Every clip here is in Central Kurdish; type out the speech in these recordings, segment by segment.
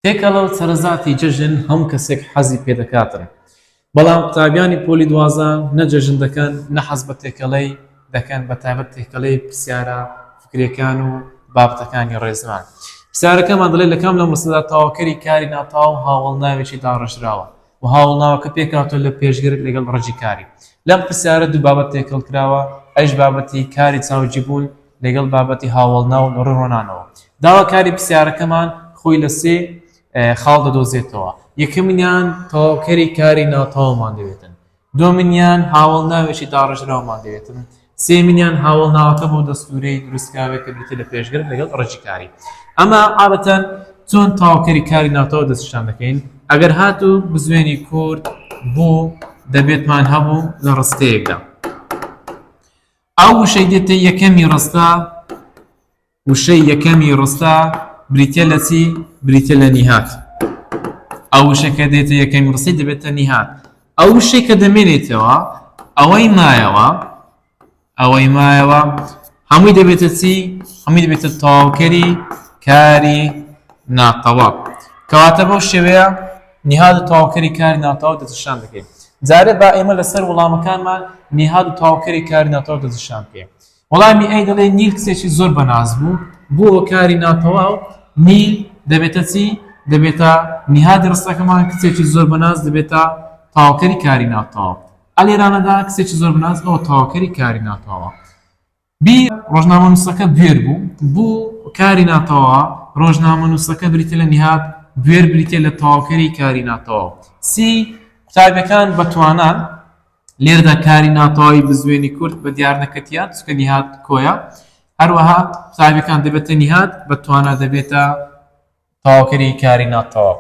تێکەڵە و سەرەزاتی جەژن هەموو کەسێک حەزی پێدەکاتن بەڵام قوتابیانی پۆلی دوازە نە جەژن دەکەن نە حەز بە تێکەڵەی دەکەن بە تایبەت تێکەڵەی پرسیارە فکرەکان و بابەتەکانی ڕێزمان پرسیارەکەمان دەڵێت لە کام لە مەسەدا تاواکەری کاری ناتاو هاوڵ ناوێکی داڕژراوە و هاوڵاوەکە پێکهاتووە لە پێشگرگ لەگەڵ ڕەگی کاری. لەم پرسیارە دوو بابەت تێکەڵ کراوە، ئەویش بابەتی کاری چاوگیبوون لەگەڵ بابەتی هاوەڵناو لە ڕووی ڕۆنانەوە. داواکاری پرسیارەکەمان خۆی لە سێ خاڵ دەدۆزێتەوە، یەکەمینیان تەواوکەری کاری ناتەواومان دەوێتن، دووەمینیان هاوەڵناوێکی داڕێژراومان دەوێتن. سێمینیان هاوەڵناوەکە بۆ دەستوورەی دروستکراوێت کە بریتیە لە پێشگرت لەگەڵ ڕێکی کاری. ئەمە عادەتەن چۆن تەواوکەری کاری ناوتەوە دەستنیشان دەکەین، ئەگەر هاتوو بزوێنی کورت بوو دەبێتمان هەبوو لە ڕستەیەکدا. ئەو وشەی دێتە یەکەمی ڕستە وشەی یەکەمی ڕستە بریتیە لە چی؟ بریتیە لە نیهات. ئەو وشەی کە دێتە یەکەمی ڕستەی دەبێتە نیهات. ئەو وشەی کە دەمێنێتەوە ئەوەی مایەوە ئەوەی مایەوە هەمووی دەبێتە چی؟ هەمووی دەبێتە تەواوکەری کاری ناتەواو. کەواتە بەو شێوەیە نیهاد و تەواوکەری کاری ناتەواو دەتشان دەکەین. جارێ با ئێمە لەسەر وڵامەکانمان نیهاد و تەواوکەری کاری ناتەواو دەتشان بکەین. وەڵامی ئەی دەڵێ نیل کچێکی زۆر بەناز بوو بۆ کاری ناتەواو نیل دەبێتە چی دەبێتە نهادی ڕستەکەمان کچێکی زۆر بەناز دەبێتە تاوکەری کاری ناتەواو ئەلێرانەدا کچێکی زۆر بەناز ئەو تاوکەری کاری ناتەواو بی ڕۆژنامە نووسەکە بێر بوو بوو کاری ناتەوا ڕۆژنامە نووسەکە بریتە لە نهاد بێر بریتە لە تەواوکەری کاری ناتەواو سی قوتابەکان بەتوانان لێرەدا کاری ناتەواوی بزوێنی کورد بە دیار نەکرد یان چونکە نیهاد کۆیە هەروەها قوتابیەکان دەبێتە نیهاد بە توانا دەبێتە تەواوکەری کاری ناتەواو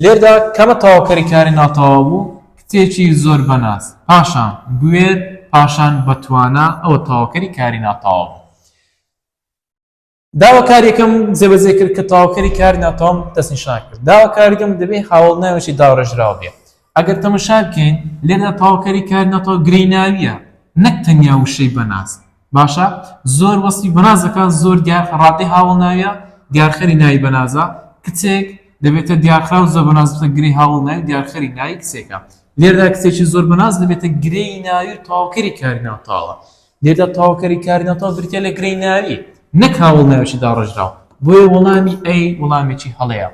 لێردا کەمە تەواوکەری کاری ناتەواو بوو کتێکی زۆر بەناس پاشان بوێر پاشان بە توانا ئەوە تەواوکەری کاری ناتەواو داوا کاریەکەم جێبەجێ کرد کە تەواوکەری کار ناتۆم دەستنیشان کرد داوا کاریگەم دەبێ هاوڵ ناوێکی داڕێژراو بێ ئەگەر تەمەشا بکەین لێردا تەواوکەری کار ناتۆ گریناویە نەک تەنیا وشەی بەناز باشە زۆر وەسی بەنازەکان زۆر دیار ڕادی هاوڵ ناویە دیارخەری ناوی بەنازە کچێک دەبێتە دیارخرا و زۆر بەنازە گری هاوڵ ناوی دیارخەری ناوی کچێکە لێردا کچێکی زۆر بەناز دەبێتە گرێی ناوی تەواوکەری کاری ناتاوە لێرەدا تەواوکەری کاری ناتەواو بریتییە لە گرێی ناوی نەک هاوەڵناوێکی داڕێژراو، بۆیە وەڵامی ئەی وەڵامێکی هەڵەیە.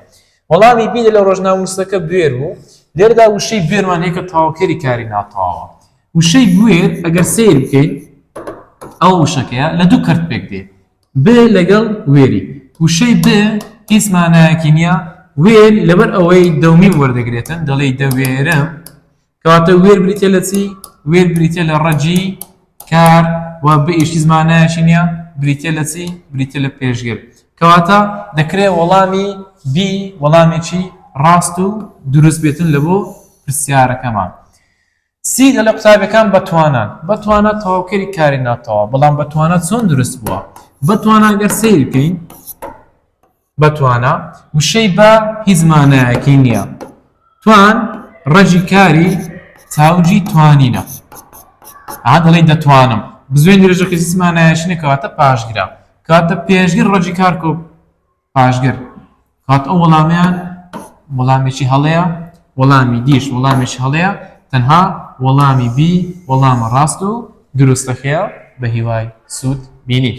وەڵامی بی لە ڕۆژنامەنووسەکە بوێر بوو، لێرەدا وشەی بوێرمان هەیە کە تەواوکەری کاری ناتەواوە. وشەی بوێر ئەگەر سەیر بکەین ئەو وشەکەیە لە دوو کەرت پێک دێ ب لەگەڵ وێری وشەی ب هیچ مانایەکی نییە وێر لەبەر ئەوەی دەومی وەردەگرێتن دەڵێی دەوێرم کەواتە وێر بریتە لە چی وێر بریتە لە ڕەجی کار و بە ئیشی زمانایەکی نییە بریتە لە چی بریتە لە پێشگر کەواتە دەکرێ وەڵامی بی وەڵامێکی ڕاست و دروست بێتن لە بۆ پرسیارەکەمان سی دە لە قوتابەکان بەتوانان بەتوانە تەواوکەری کاری ناتەوە بەڵام بەتوانە چۆن دروست بووە بەتوانە گەر سیر بکەین بە توانا، وشەی بە هیچ مانایەکی نییە. توان ڕەگی کاری تاوجی توانینە. ئەها دەڵێی دەتوانم. بزوێنی ڕێژەکە هیچ مانایەکی نییە کەواتە پاشگرە. کەواتە پێشگر ڕەگی کار کۆ پاشگر. کەواتە ئەو وەڵامەیان وەڵامێکی هەڵەیە، وەڵامی دیش وەڵامێکی هەڵەیە، تەنها وەڵامی بی وەڵامە ڕاست و دروستەکەیە. بەهیوای سوود بینین.